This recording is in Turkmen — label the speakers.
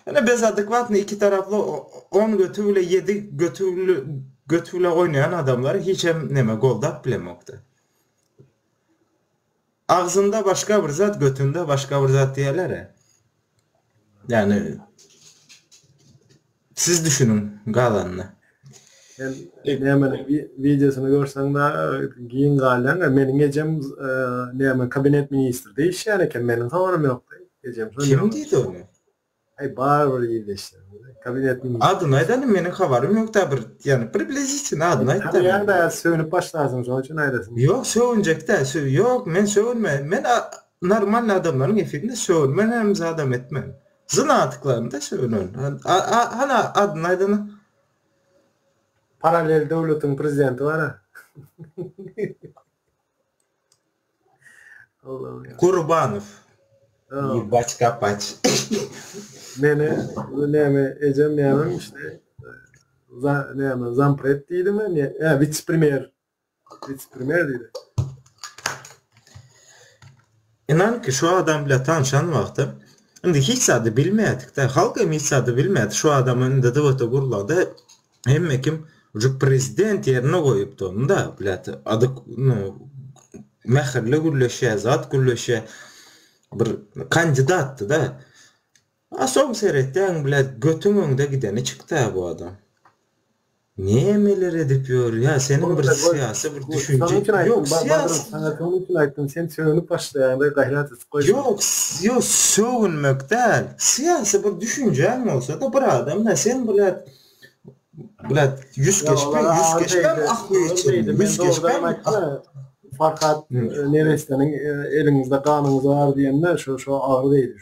Speaker 1: Ine biz adekwatny iki taraply on götü bile ýedi götü bile oýnaýan adamlar hiçem neme goldap bilemokda. Agzynda başga bir zat götünde başga bir zat diýelere. Ýagny siz düşüniň galanyna. Sen
Speaker 2: nämäni wideosyny görseň-de giň galýaň. Meniň ejem näme kabinet ministrde işleýän eken. Meniň habarym ýokdy. Ejem şony. Kim diýdi
Speaker 1: ony? Aý bar
Speaker 2: bir ildeşler. Kabinet ministri. Adyny aýdaly meniň
Speaker 1: habarym ýokda bir ýany približitini adyny aýt. Tanýaň da sögünip
Speaker 2: başlarsyň şoň üçin aýdasym. Ýok sögünjek
Speaker 1: däl. Ýok men sögünme. Men normalny adamlaryň efirinde sögünmen hem zadam etmen. Jyn atyklaryny-da şeýle önerin. Hany adyny aýdana. Paralel
Speaker 2: döwletiň prezidenti bara. Gurbanow.
Speaker 1: Ýe
Speaker 2: baç kapaç.
Speaker 1: Meni
Speaker 2: näme ejem ýaňam işte za näme zampret diýdimi? Ä witse-premýer.
Speaker 1: Ynan ki şu adam bile tanşan wagtym indi hiç zady bilmedik-de halk hem hiç zady bilmedi şu adama indi dwt gurlanda hemme kim ucu prezident yerine goyupdy onu da blat ady no mähirli gürleşe zat gürleşe bir kandidatdy da Aşam seretýäň bile götüň öňde gideni çykda bu adam. Nämeler edip ýör ýa seniň bir syýasy bir düşünje ýok syýasy saňa şonuň üçin aýtdym
Speaker 2: sen sögünip başlaýaňda gaýrat et goý. Ýok ýok
Speaker 1: sögünmek däl syýasy bir düşünjäň bolsada bir adam da sen bile Brat, ýüz geçme, ýüz geçme, ah bu geçen, ýüz geçme,
Speaker 2: fakat neresiniň eliňizde ganyňyz bar diýende, şo şo agyr degdi.